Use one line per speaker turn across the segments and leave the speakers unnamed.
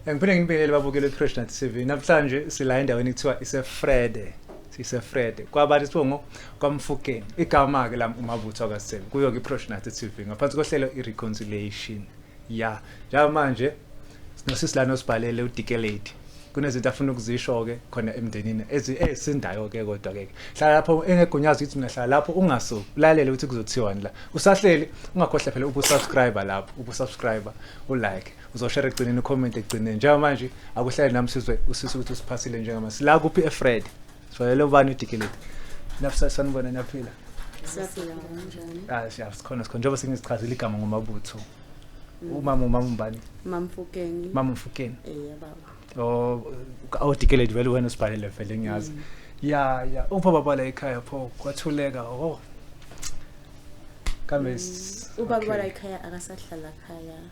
Ngiphinde nginibingelele babukele Freshness TV. Namhlanje sila endaweni kuthiwa iseFrede. SiseFrede. Kwabantu sithiwa ngo kwaMfukeni. Igama ke lami uMabutho akaSithembu. Kuyo ke Freshness TV ngaphansi kohlelo iReconciliation. Ya. Njalo manje sinosisi lana osibhalele uDikelate. Kunezinto afuna ukuzisho ke khona emndenini ezi esindayo ke kodwa ke. Hlala lapho engegunyazi ukuthi mina hlala lapho ungasuki. Ulalele ukuthi kuzothiwani la. Usahleli ungakhohle phela ukusubscribe lapho, ukusubscribe, ulike. uzoshare ekugcineni ucomment ekugcineni njengamanje akuhlale nami sizwe usisi ukuthi usiphasile njengama sila kuphi efred sivalele ubani udikeleti nafisa sanibona niyaphila Siyaphila
kanjani? ah siya sikhona sikhona njengoba
sengizichazile igama ngomabutho umama umama umbani Mamfukeni. mama
mfukeni Eh
baba. o awudikeleti vele wena usibhalele vele ngiyazi ya ya upha baba la ekhaya pho kwathuleka oh kambe s- Ubaba okay. la
ekhaya akasahlala ekhaya.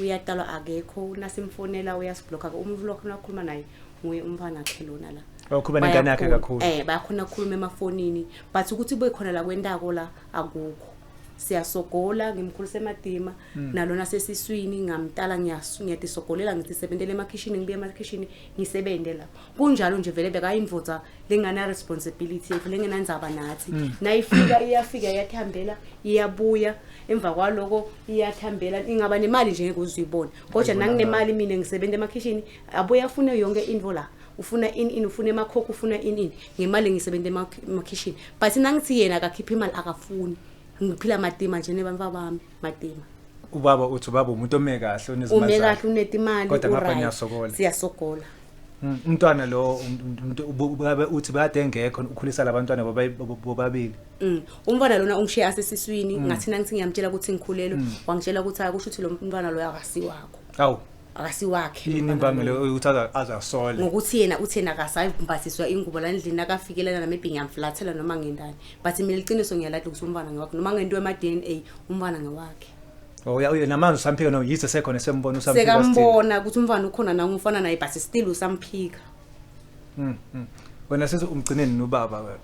uyaqalwa akekho nasimfonela uyasiblokha umuntu lokho nakhuluma naye nguye umfana akhe lona la okuba nengane yakhe
kakhulu eh bayakhona ukukhuluma
emafonini but ukuthi kube khona la kwentako la akukho siyasogola ngimkhulisa emadima hmm. nalona sesiswini ngamtala ngiyatisogolela ngithi sebentele emakhishini ngibuye emakhishini ngisebenze lapho kunjalo nje vele bekayimvutha lengana responsibility yethu lengenandzaba nathi mm. nayifika iyafika iyathambela iyabuya emva kwaloko iyathambela ingaba nemali nje ngeke uzuyibona kodwa nanginemali mina ngisebenza emakhishini abuye afune yonke into la ufuna in in ufuna emakhokho ufuna in in ngemali ngisebenza emakhishini but nangithi yena akakhipha imali akafuni ngiphila matima nje nebantwa bami Matima. Ubaba uthi
ubaba umuntu ome kahle onezimali. Ume kahle unetimali.
Kodwa ngapha ngiyasokola.
Siyasokola.
Mm, umntwana
lo ubabe uthi bade engekho ukhulisa labantwana bobabili mm, umntwana
lona ungishiya asesiswini mm. ngathina ngithi ngiyamtshela ukuthi ngikhulelwe wangitshela ukuthi akusho ukuthi lo mntwana loyo akasiwakho awu akasiwakhe yini imbangelo
ukuthi azasole ngokuthi yena uthena
akasayibhathizwa ingubo landlini akafikelana namebhingi amflathela noma ngendani but mina iqiniso ngiyalahle ukuthi umfana ngewakhe noma ngento ema DNA umfana ngewakhe Oh ya uye namanje
usamphika no yize sekhona sembona usamphika sekambona ukuthi umfana
ukhona na umfana naye but still usamphika Mhm mm.
wena sese umgcineni nobaba wena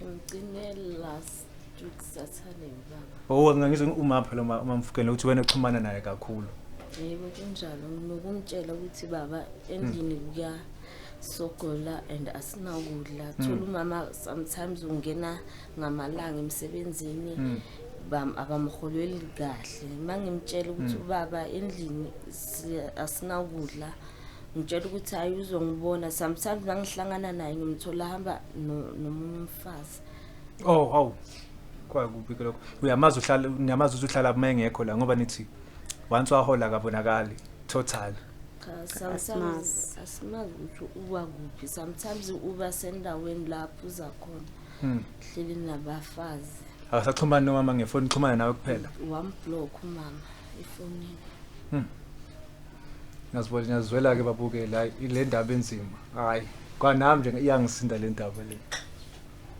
umgcine
last week sathane baba oh ngangizwe uma phela
uma umamfukele ukuthi wena uxhumana naye kakhulu yebo
kunjalo nokumtshela ukuthi baba endlini kuya sogula and asinakudla hmm. thola umama sometimes ungena ngamalanga emsebenzini hmm. abamholweli kahle uma ngimtshela ukuthi hmm. ubaba endlini asinakudla ngitshela ukuthi hayi uzongibona sometimes nangihlangana naye ngimthola hamba nomunye umfazi oh haw
kwakubi lokho uyamazi uhlala niyamazi ukuthi uhlala uma engekho la ngoba nithi once wahola akabonakali totally cha sometimes
asimazi ukuthi uba kuphi sometimes uba sendaweni lapho uza khona Hmm. hleli nabafazi Akasaxhumani nomama
ngefoni xhumana nawe kuphela. wamblock umama
efonini
Ngiyazibona ngiyazwela ke babuke la ile ndaba enzima. Hayi, kwanami nje iyangisinda le ndaba le.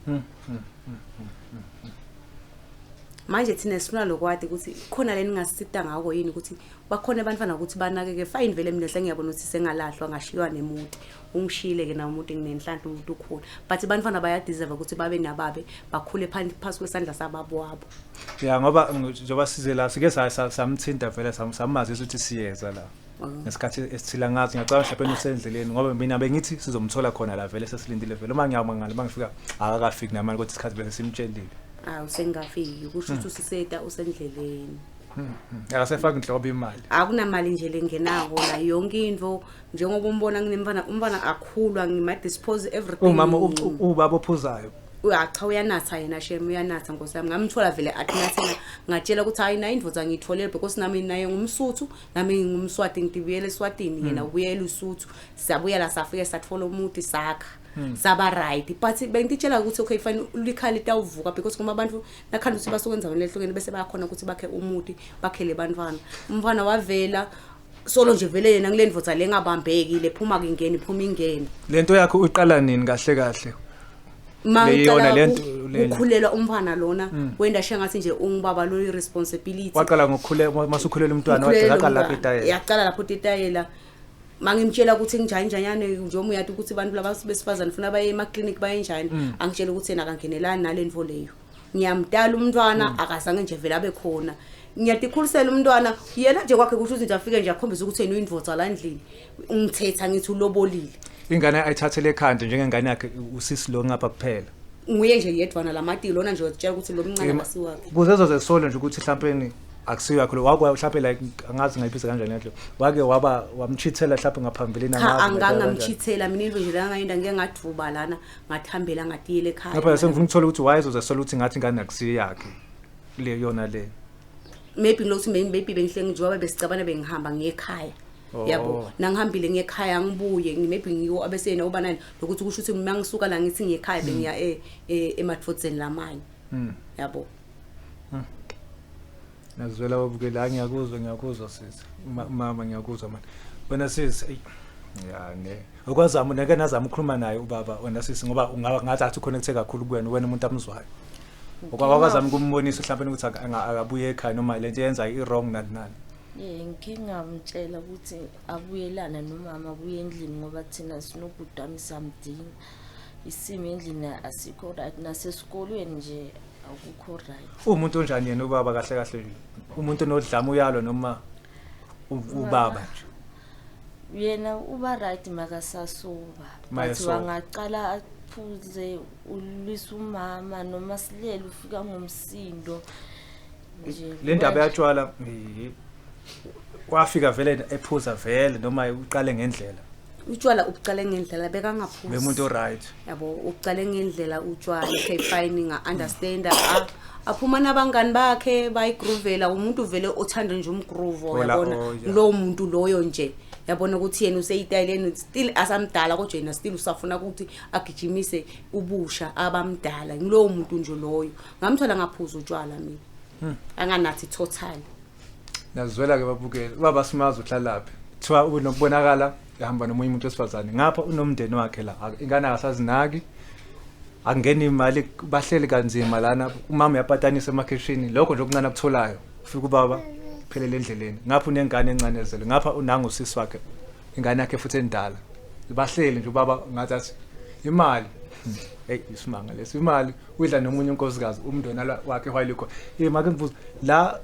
Hmm.
manje thina sifuna lokwadi ukuthi khona leningasisita ngako yini ukuthi bakhona abantwana ukuthi banakeke fine vele mina sengiyabona ukuthi sengalahlwa ngashiywa nemuti ungishiyile ke nawo umuntu nginenhlanhla umuntu ukhona but abantwana bayadeserve ukuthi babe nababe bakhule phasi kwesandla sababo wabo ya ngoba
njengoba size la sike samthinta vele samazisa ukuthi siyeza la ngesikhathi esithila ngathi ngiyacabanga mhlawumbe usendleleni ngoba mina bengithi sizomthola khona la vele sesilindile vele uma ngiyama ngale uma ngifika akakafiki namali kodwa isikhathi bese simtshelile awu sengafiki
kusho ukuthi usiseta usendleleni
akasefaki nhlobo imali akunamali nje
lengenako la yonke into njengoba umbona nginemfana umfana akhulwa ngima-dispose everything umama u- ubaba
ophuzayo Uya- cha uyanatha
yena shem uyanatha nkosi yami ngamthola vele atinathela ngatshela ukuthi hayi nayo indoda ngiyitholele because nami naye ngumsuthu nami ngingumswati ngibuyele eswatini yena ubuyela usuthu siyabuya la safike sathola umuti sakha saba right but bengititshela ukuthi okay fine likhaya litawuvuka because kuma abantu nakhanda ukuthi basuke endaweni lehlukene bese bayakhona ukuthi bakhe umuti bakhele bantwana umfana wavela solo nje vele yena kule ndvodza le ngabambeki le
phuma
kingeni
phuma ingeni le nto yakho
uyiqala
nini
kahle
kahle mangicela ukukhulelwa umfana
lona mm. wenda she ngathi nje ungibaba lo responsibility waqala ngokukhulela
masukhulela umntwana waqala lapho itayela yaqala lapho itayela
mangimtshela ukuthi nginjani njanyane njengoba uyati ukuthi abantu laba besifazane funa baye emaclinic bayenjani mm. angitshela ukuthi yena akangenelani nale nto leyo ngiyamdala umntwana mm. akazange nje vele abe khona ngiyadikhulisela umntwana yena nje kwakhe kusho ukuthi nje afike nje akhombisa ukuthi yena uyinvoza la ndlini ngithetha ngithi ulobolile ingane ayithathele
ekhanda njengengane yakhe usisi lo ngapha kuphela nguye nje yedwana
lamatilo lona nje wazitshela ukuthi lo mncane asiwakhe kuzezo zesolo nje ukuthi
mhlawumbe akusiyo yakho wake mhlawumbe like angazi ngayiphisa kanjani yakho wake waba wamchithela mhlawumbe ngaphambilini angazi angangamchithela
mina into nje la ngayinda ngeke ngathuba lana ngathambela ngatiyele ekhaya lapha sengifuna ukuthola ukuthi
wayezoza sola ukuthi ngathi ngane akusiyo yakhe le yona le maybe
ngilokuthi maybe bengihle ngijoba besicabana bengihamba ngekhaya Oh. yabo nangihambile ngekhaya ngibuye maybe ngiwo abeseyena uba nani lokuthi kusho ukuthi mina ngisuka la ngithi ngekhaya bengiya e, e, emadfodzeni lamanye hmm. yabo
Ngizwela wabukela hayi ngiyakuzwa ngiyakuzwa sisi. Ma- Mama ngiyakuzwa manje. Wena sisi eyi ya ne. Okwazama nake nazama ukukhuluma naye ubaba wena sisi ngoba ungaba ngathi athi connecte kakhulu kuwena wena umuntu amzwayo. Ngoba wazama ukumbonisa mhlawumbe ukuthi aka- anga- akabuye ekhaya noma lento yenza i wrong nani nani. Eh ngike
ngamtshela ukuthi abuyelana nomama abuye endlini ngoba thina sinobhuti wami samdinga. isimo endlini asikho right nasesikolweni nje akukho right umuntu onjani yena ubaba
kahle kahle umuntu onodlama uyalo noma u- ubaba nje
yena uba right makasasuka but Mayesoka. wangaqala aphuze ulwisa umama noma silele ufika ngomsindo le ndaba yatshwala
eh, wafika vele ephuza vele noma uqale ngendlela utshwala ubucale
ngendlela bekangaphuzi bemuntu oright
yabo ubucale
ngendlela utshwala okay fine nga understand ah, aphuma nabangani bakhe bayigroovela umuntu vele othanda nje umgroove Ola, yabona oh, yeah. lowo muntu loyo nje yabona ukuthi yena useyitayileni still asamdala kodwa yena still usafuna ukuthi agijimise ubusha abamdala ngilowo muntu nje loyo ngamthola ngaphuza utshwala mina hmm. anganathi total
ngazwela ke babukele ubaba simazi uhlalaphi kuthiwa unokubonakala ehamba nomunye umuntu wesifazane ngapha unomndeni wakhe la ingane akasazinaki angeni imali bahleli kanzima lana umama uyapatanisa emakhishini lokho nje okuncane akutholayo ufika ubaba phelele endleleni ngapha unengane encane ezele ngapha unanga usisi wakhe ingane yakhe futhi endala bahleli nje ubaba ngathi athi imali hey isimanga lesi imali Udla nomunye unkosikazi umndeni ala- wakhe while ukhona. Eh make ngibuza la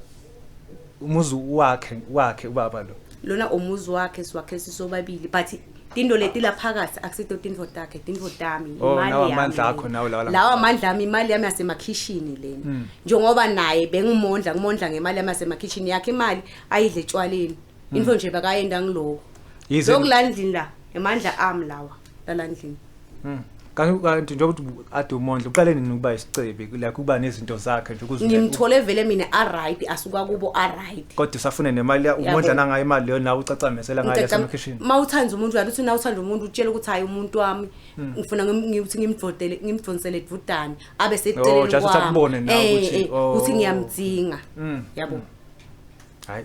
umuzi wakhe wakhe ubaba lo. lona umuzi
wakhe siwakhe sisobabili but tinto leti la phakathi akusito tintfo takhe tintfo tami Oh, imali lawa yami mandla lena.
akho nawo lawa la- lawa mandla ami
imali yami yasemakhishini lena njengoba naye bengimondla ngimondla ngemali yami yasemakhishini yakhe imali ayidle etshwaleni into nje bekayenda ngiloko Yize- lokulandlini la emandla ami lawa lala ndlini Mm. Kanti
kanti njengoba uthi bu- ade umondla uqale nini ukuba isicebi like ukuba nezinto zakhe nje ukuze ngimthole vele mina
aright asuka kubo aright kodwa usafune nemali ya-
umondla nangayo imali leyo nawe ucacamesela ngayo yaselokhishini ma uthanda umuntu uyathi uthi
na uthanda umuntu utshela ukuthi hayi umuntu wami Hmm. ngifuna ngim- ngithi ngimdvodele ngimdvonsele dvudane abe Oh, just seceleni ukuthi kwami. akubone nawe
Eh, ukuthi, eh, oh. ukuthi ngiyamdzinga
Mm. yabo hayi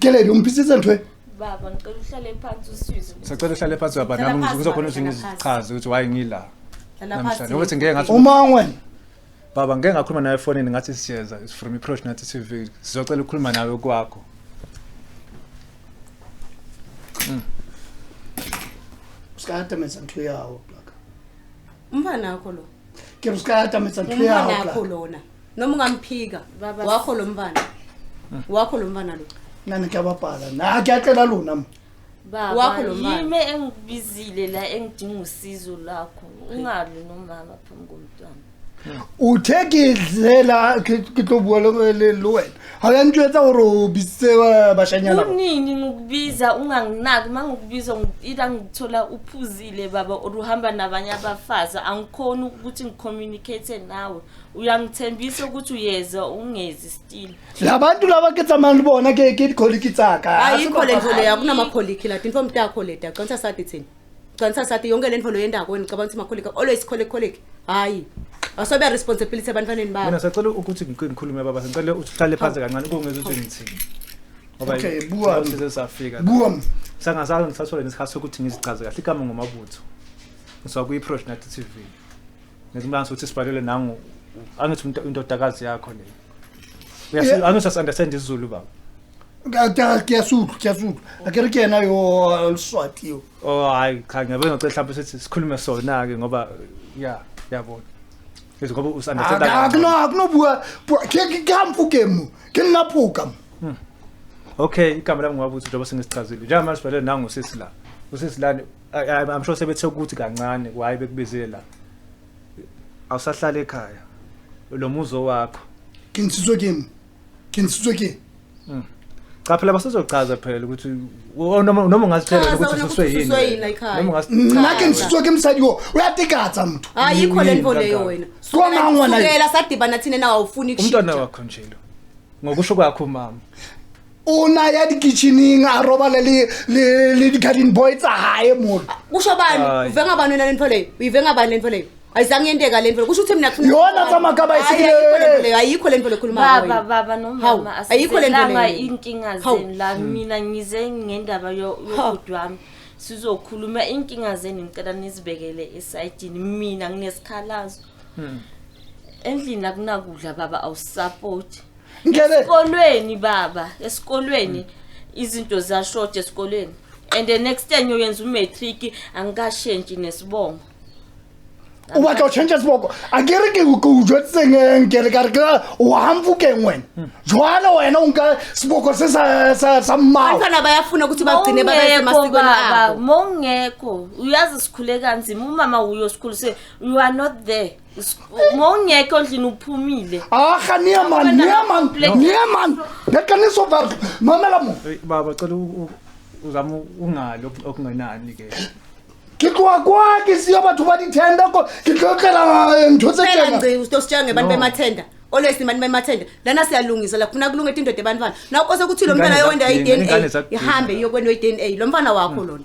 Kelele umphisize ntwe. Baba ngicela uhlale
phansi usizwe. Sacela uhlale phansi baba
Hlala nami phansi, ngizokhona baba, ukuthi hlala phansi. ngizichaze ukuthi why ngila. Hlala Namhlanje phansi. ukuthi ngeke ngathi Umangwe.
baba ngeke
ngakhuluma nawe efonini ngathi siyeza it's from approach nathi TV sizocela ukukhuluma nawe kwakho.
Usikata mesa ntwe yawo. Umfana
wakho lo. Ke usikata
mesa ntwe Umfana yawo. wakho lona.
noma ungamphika Baba- wakho lo mfana wakho lo mfana lo nani kuyababhala
na kuyacela lona ma baba Wakho
lo mama. yimi engikubizile la engidinga usizo lakho ungalwi nomama phambi komntwana
uthe ke zela ke ke tlo bua le le le wena ha ya ntjwetsa hore o bitse ba bashanyana ba kunini ngikubiza
unganginaki uma ngikubiza ngi- ila ngithola uphuzile baba or uhamba nabanye abafazi angikhoni ukuthi ngicommunicate nawe uyangithembisa ukuthi uyeza ungezi still labantu laba ke
tsamani bona ke ke dikholiki tsaka ayikho le ndlela yakho
kunamakholiki la tinfo mtakho le dagcantsa sathi thina gcantsa sathi yonke le ndlela yendako ngicabanga ukuthi makholiki always khole kholiki hayi asobe responsibility ebantwaneni babo mina sacela ukuthi ngikhulume
baba ngicela uhlale phansi kancane ukungeza ukuthi ngithini okay
buwa size safika
buwa
sangasazi ngisasole
nesikhathi sokuthi ngizichaze kahle igama ngomabutho ngiswa kuyi-prosh nathi tv ngizimlanga ukuthi sibhalele nangu angithi indodakazi yakho le uyasi angithi as understand isizulu baba kuyasudla kuyasudla
akere ke yena yo luswati yo oh hayi cha ngiyabona
ukuthi mhlawumbe sithi sikhulume sona ke ngoba ya yabona ngithi ngoba us understand akuno akunobuwa
ke ngikamfu ke mu ke ngaphuka hmm.
okay igama lami ngwabuthi njengoba sengisichazile njengamanje sibhalele nangu sisi la usisi lani I- I- I'm sure sebethe ukuthi kancane kwaye bekubizile la awusahlala ekhaya lo muzo wakho ke ntsitswe ke
mo ke ntsitswe ke
cha phela basezochaza phela ukuthi o- noma noma ungazitshela Chaza ukuthi wena ususwe ukuthi yini ususwe yini la ekhaya. noma ungasi nna ke ntsitswe ke mosadi
o o ya tekatsa motho hayi yikho le nto
leyo Yini, wena Kwa mangwa la- sukela
sadibana thina
nawe awufuni umntwana kushitsha wakho nje lo
ngokusho kwakho mama o na
ya dikitcheneng a robale le- le le di-garden boy tsa gae mona kusho bani Hayi.
uvenga bani wena le nto leyo uyivenga bani le nto leyo ayizange yenteka le nto leyo kusho ukuthi mina kufuna- Yona tsamaya ka Hayi, bayisikile.
ayikho le nto leyo ayikho le nto leyo khuluma ngayo
baba wena. baba Hawu,
nomama ayikho le nto asizelanga leyo.
iy'nkinga
Hawu. zenu
la
mina ngize ngendaba yo- yobhuti wami sizokhuluma iy'nkinga zenu ngicela nizibekele esayidini mina nginesikhalazo Hmm. Endlini akunakudla baba awusupport. Ngeke esikolweni baba, esikolweni hmm. izinto zashort esikolweni. And the next time uyenza umatric angikashentshi nesibongo.
o batla go change seboko a ke re ke ke o jwetseng ke re ka re ke o hamfukeng wena hmm. jwale wena o nka seboko se sa mmao abantwana bayafuna ukuthi
bagcine babaemasikweni abo mongekho
uyazi sikhule kanzima umama uyo sikhulu se you are not there S- uma ungekho endlini uphumile Ah, ga nee man,
Wena nee man, complex. nee man. Dit kan nie so werk. Mamela mo. Hey, baba cela u- u-
uzame ungali ok- okungenani ke Ke tloha
kwa ke siya batho ba di-tender ko ke tlo tlela eh, ntho tse phela tjena. ngci usitositshala ngebantu No.
bemathenda always abantu bemathenda lana siyalungisa la kufuna kulunga indoda ebantwana naw kose kuthi lo Ingane mntwana yowenda zakudinga, ingane i-dna zakudinga. ihambe iyokwena i-dna lo mfana wakho lona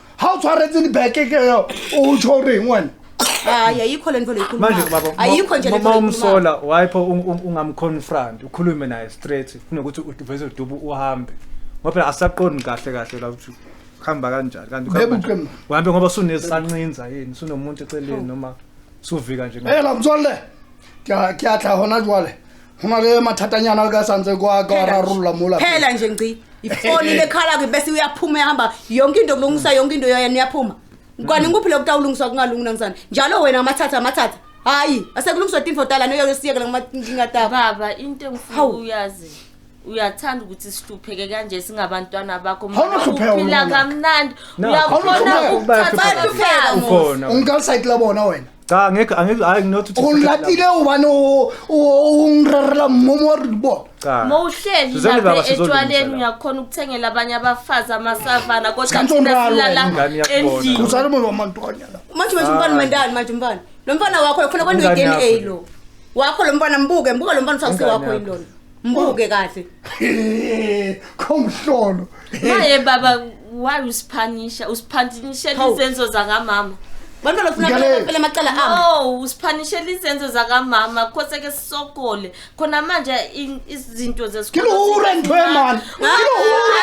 ga o tshwaretse
dibeke ke yo o tsho o reng wena hayi ayikho
le nto manje baba leyikhuluma ayikho
nje le nto
uma leyikhuluma
umsola
wayipho
ung- ung- ungamconfront ukhulume naye straight kunokuthi uveze udubu uhambe ngoba phela asaqondi kahle kahle la ukuthi kuhamba kanjani kanti Bebe ukuhamba uqembu. nje. uhambe ngoba sunesancinza yini sunomuntu eceleni noma suvika nje ela motswalle
ke a- ke a tla gona jwale go na le mathatanyana le ka santse kwa ka wa rarolola mola phela nje ngci
ifoni lekhala ke bese uyaphuma ehamba yonke into kulungisa yonke into yoyena uyaphuma kwani ngikuphi lokuta ulungiswa kungalungi namsana njalo wena amathatha amathatha hayi asekulungiswa tinfo tala noyosiyekela nginkinga taba baba into engifuna
Hawu. uyazi uyathanda ukuthi sihlupheke kanje singabantwana bakho Awunohlupheka uphila wena.
kamnandi Nakho.
uyakhona Awunohlupheka. ukuthatha Bayahlupheka, Mos.
ukhona ungikalsayitila
bona wena cha ngeke angeke
hayi nginothi uthi ulatile ubani
o- o- ungirarela mmomo wa ribona cha mowuhleli Sizeni
baba, lapha sizolungisela. etshwaleni uyakhona ukuthengela abanye abafazi amasavana kodwa Sikhantsho thina umralo silala wena, ingane yakubona. endlini uzala umuntu wamantwanyana
manje manje umfana
mandani manje umfana lo mfana wakho ufuna kwenza Ingane i-dna yakho. lo wakho lo mfana mbuke mbuka lo mfana usakusi Ingane wakho yakho. yilona Mbuke kahle. Khomhlolo.
Maye baba why usiphanisha? Usiphanisha izenzo zakamama.
Bantwana ufuna kuphela amacala ami. Oh, usiphanisha
izenzo zakamama. Khose ke sisokole. Khona manje izinto zesikole. Kilura ntwe
man. Kilura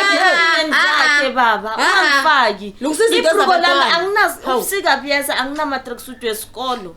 ntwe
baba. Ungafaki. Lungisiza izinto zabantwana. Anginazi usika buyeza anginama tracksuit wesikolo.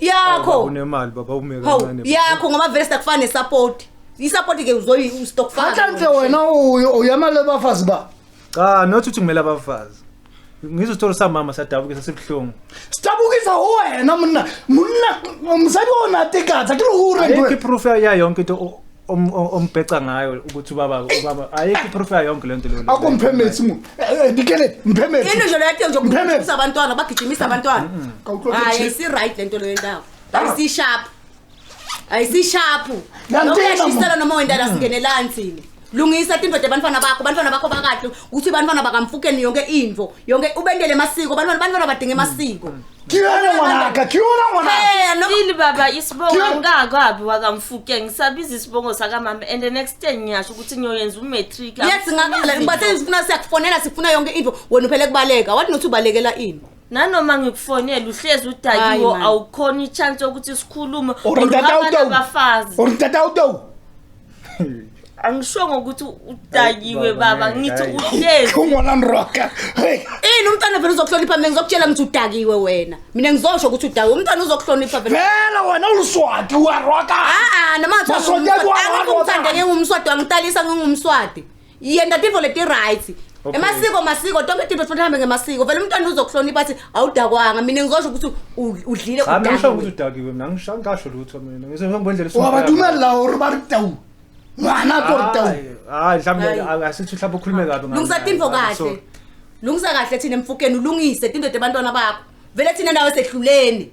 yakho
unemali baba
ume Hawu, kancane yakho ngoba vele sakufana
nesapoti isapoti ke uzoyi Atlanhle ustokfana wena uyo
uyamali abafazi ba. cha not ukuthi
kumele abafazi ngizosithola samama sadabuke sasibuhlungu Stabukisa
wena mna. Mna msayibona tikatha kilura ayikho ndwe. iproof yayo
yonke into o- om- o- ombheca ngayo ukuthi ubaba ubaba ayikho iproof yayo yonke lento leyo akho mphemesi mu
Eh, eh, dikele into mphemesi nje leyo yakhe nje Mphemela.
ukugijimisa abantwana bagijimisa abantwana Kawuxoxe hayi nje. ayisi-right le nto leyo ndawo ayisisharp ayisisharpu Yantena, noma uyashisela mama. noma wendala singenelani thina lungisa tindoda ebantwana bakho bantwana bakho bakahle ukuthi bantwana bakamfukeni yonke into yonke ubentele masiko bantwana bantwana badinga emasiko Kiona mwanaka,
kiona mwanaka. Hey, no.
Yini baba isibongo Kiona. angikakwabi wakamfuke ngisabiza isibongo sakamama and the next day ngiyasho ukuthi ngiyoyenza umatric. yes ngakala
ngibathe sifuna siyakufonela sifuna yonke into wena uphele kubaleka wathi nothi ubalekela ini Nanoma ngikufonela
uhlezi Hayi, udakiwo man. awukhona ichance yokuthi sikhulume Or ngoba ntata abanye uTowu. abafazi.
Or ntata uTowu.
angishongo ukuthi udakiwe baba ngithi uhlezi Ungona mroka.
Hey. ini umntwana
vele uzokuhlonipha mina ngizokutshela ngithi udakiwe wena mina ngizosho ukuthi udakiwe umntwana uzokuhlonipha vele Vela wena uluswati
uyaroka. aa Masonja
kwa- kwa- umthanda ngingumswadi wangitalisa ngingumswadi yenta tintfo leti-right Okay. emasiko masiko tonke tintfo sifuna hambe ngemasiko vele umntwana uzokuhlonipha athi awudakwanga mina ngizosho ukuthi u- udlile Cha mina ngisho udakiwe. ukuthi
udakiwe mina ngisho angasho lutho mina ngise ngendlela esuka. wabatumella gore
ba re tau ngwana ko re tau Hayi, hayi mhlawumbe
Hayi. asithi mhlawumbe ukhulume kabi ngami. lungisa tintfo Hayi, kahle
sorry. lungisa kahle thina emfukeni ulungise tintfo tebantwana bakho vele thina nawe sehluleni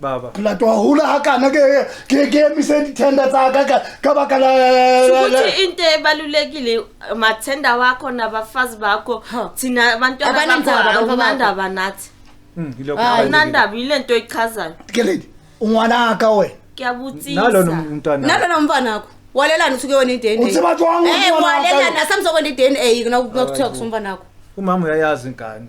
baba ke la twa hula ha kana
ke ke ke emise dithenda tsa ka ka ka baka la ukuthi into
ebalulekile mathenda wakho nabafazi bakho thina abantu abanandaba abanandaba nathi hmm,
abanandaba yile
nto echazayo ke lady
ungwana ka wena ngiyabutsisa nalona
umntwana
nalona umntwana wakho
walelani usuke wena i-dna uthi bathi
wangumntwana
eh, walelani asamzokwenza i-dna nakuthiwa kusumntwana wakho umama uyayazi
ingane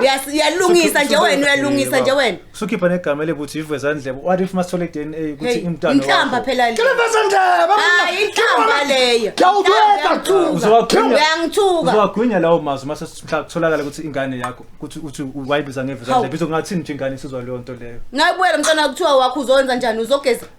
Uyas- uyalungisa nje wena uyalungisa nje wena sukhipha negama elibuthi
ivezandlebe what if masithole dna ukuthi Hey, imntwana inhlamba wakho. phela le
hayi
inhlamba
leyo Inhlamba, Uzowagwinya- uyangithuka uzowagwinya lawo mazwi
mase mhla kutholakala ukuthi ingane yakho ukuthi uthi wayibiza ngevezandlebe Hawu. izokungathini nje ingane isizwa leyo nto leyo nayibuyela mntwana kuthiwa
wakho uzowenza njani uzogeza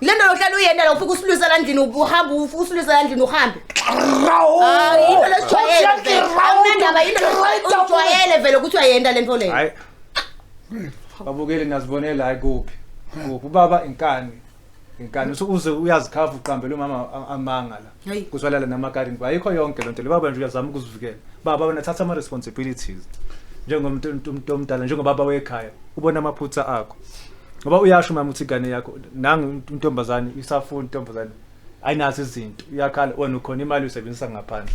Le nto yokuhlala uyena la ufika usilwisa la ndlini uhambe uf- usilwisa la ndlini uhambe Hayi, yinto lejwayele vele awunandaba yinto lejwayele- ujwayele vele ukuthi uyayenda le nto leyo
hayi babukeli ngazibonela hayi kuphi kuphi ubaba inkani inkani Usu- uze uyazikhava uqambela umama a- amanga la Hayi. kuzwalala namakarini ayikho yonke lento le baba nje uyazama ukuzivikela baba wena thatha ama responsibilities njengomuntu umuntu- umuntu omdala njengobaba wekhaya ubona amaphutha akho ngoba uyasho mama uthi igane yakho nangu intombazane isafuna intombazane ayinazo izinto iyakhala wena ukhona imali uyisebenzisa ngaphandle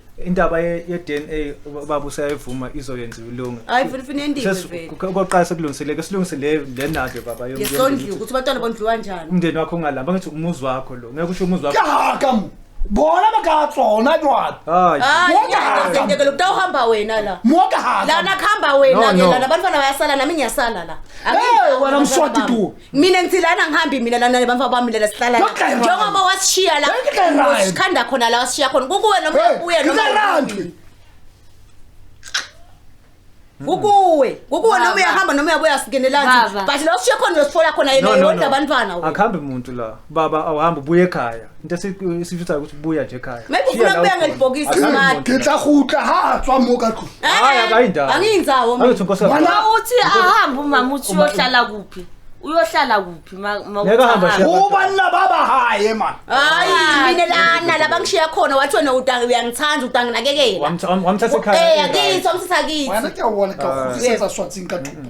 indaba ye-
ye-dna ubaba useyayivuma izoyenziwa ilunga hayi vele ufuna yendiwe Sesi-
vele kuke- okokuqala sekulungisile
ke silungise le le nado baba yom- yesondliwa yomndeni. ukuthi abantwana
bondliwa njani umndeni wakho ungalamba ngithi
umuzi wakho lo ngeke usho umuzi wakho kaka
bona bakatsona jwalo hayi hayi Wonke hamba.
ngiyazendekela ukuthi awuhamba wena la moka haka lana
kuhamba wena
No, ke no. lana abantwana bayasala nami ngiyasala la Hey, wena mswati
tu mina ngithi lana ngihambi
mina lana nebamfa bami lela sihlala la. Yonke kayirani. njengoba wasishiya la Yonke kayirani. usikhanda khona la wasishiya khona kukuwe noma Hey, uyabuya noma ngizarandi. uyabuya. kukuwe kukuwe noma Baba. uyahamba noma uyabuya singenelani Baba. but la usishiya khona uyosithola khona yena yodwa abantwana we. akuhambi muntu la
baba awuhambi ubuye ekhaya Into esi- esifisa ukuthi buya nje ekhaya. Maybe Shiya ufuna la ukubuya ukhona. ngelibhokisi
Akazi smart. muntu. ke tla gutla ha
tswa mo ka tlong Hayi, akayindawo.
angiyinzawo Angithi mina unkosikazi.
Wala- Uma
uthi ahambe
umama uthi uyohlala kuphi uyohlala kuphi ma-
ma uthi Ngeke ahambe, ahambe. Shiya. o banna ba ba
hae man hayi Ah. mina
lana la bangishiya khona wathi wena utangi uyangithanda utangi nakekela Wamtha- wam- wamthatha ekhaya.
Eh, akithi wamthatha kithi
wena ke a bona ka Ah.
go setsa swatsing ka thupo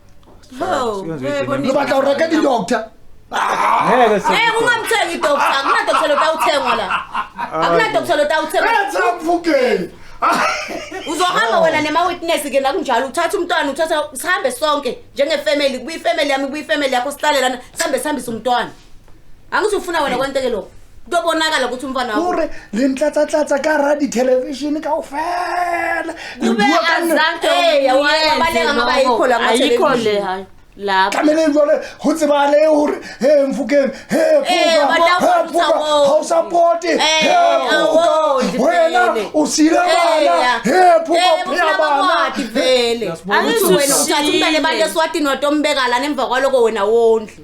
Ho, Siyenza eh, into bonisa. Lobata ureka di doctor. Ngeke
Eh sisi. ungamthengi
doctor, akuna doctor lotawuthengwa la. Akuna doctor lotawuthengwa.
Enza
mfukeni. Uzohamba wena nema witness ke nakunjalo uthatha umntwana uthatha sihambe sonke njenge family kuyi family yami kuyi family yakho sihlale lana sihambe sihambise umntwana. angithi ufuna wena kwenteke lokho kuyobonakala ukuthi umfana wakho ore le ntlatsatlátsa
ka ra dithelevishini ka ofela kube
azange eya wabaleka
ngoba yikho la ayikho le hayi
lapho tlamele jwale
go tsebale gore he mfokeng he gausapoti wena o sile bana he phokaphea bana
eswatini watombekalana emva kwaloko wena wondle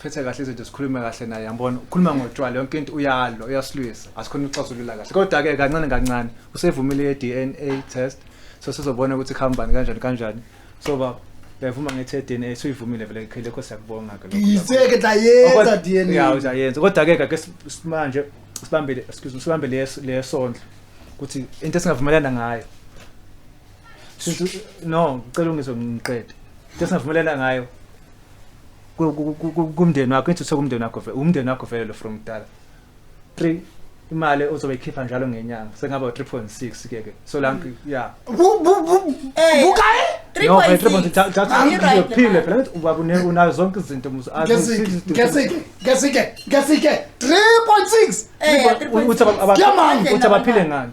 phethe kahle izinto sikhulume kahle naye yambona ukhuluma ngotshwala yonke into uyalo uyasilwisa asikhona ukuxazulula kahle kodwa ke kancane kancane usevumile ye DNA test so sizobona ukuthi khambani kanjani kanjani so baba yavuma ngethe DNA suyivumile vele ikhele kho siyakubonga ke lokho. Yiseke tla yenza
Ya DNA. uzayenza kodwa ke
kake simanje sibambele excuse me sibambe leso lesondlo ukuthi into esingavumelana ngayo. Since no ngicela ungizo ngiqede. Into esingavumelana ngayo kumndeni wakho ithi usekumndeni wakho vele umndeni wakho vele lo from kudala 3 imali ozobe ikhipha njalo ngenyanga sengaba 3.6 ke ke so la mm. ya
bukayi
3.6 phile phela ubaba unayo zonke izinto muzo ngesike ngesike
ngesike 3.6 uthi
abaphile ngani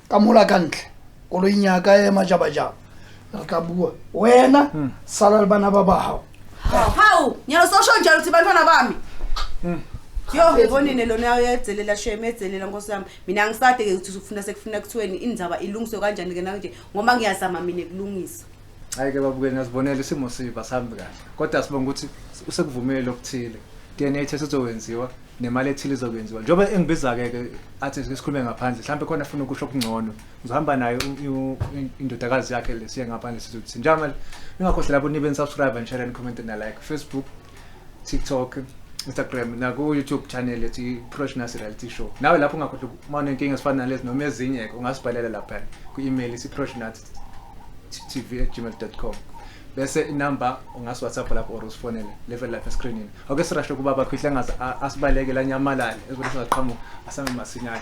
ka mola ka ntle koloing ya ka e majabajaba re tla bua wena sala le bana ba ba gago hawu
nyalo sosho njalo ukuthi bantwana bami yo ngebonine lona yayo yadzelela shame yadzelela nkosi yami mina angisade-ke ukuthi usufuna sekufuna kuthiweni indaba ilungiswe kanjani-ke nanje ngoba ngiyazama mina kulungisa hayi ke babukeli
ngiyazibonela isimo siba sihambi kahle kodwa sibonga ukuthi usekuvumile okuthile DNA test uzowenziwa nemali ethile izokwenziwa njengoba engibiza-ke ke athi sikhulume ngaphandle mhlawumbe khona afuna ukusho okungcono uzohamba nayo indodakazi yakhe le siye ngaphandle sizothini njengamanje ningakhohlelabo nibe nisubscribe and share and comment na like facebook TikTok Instagram naku YouTube channel ethi Professionals Reality Show nawe lapho ungakhohlwa uma unenkinga ezifana nalezi noma ezinye ke ungasibhalela lapha ku-email isiprofessionalstv@gmail.com bese inamba ungasi WhatsApp lapho or usifonele level lapha escreenini ake sirashe kuba bakhwihla ngaze asibaleke la nyamalale ezibona singaqhamuka asambe masinyane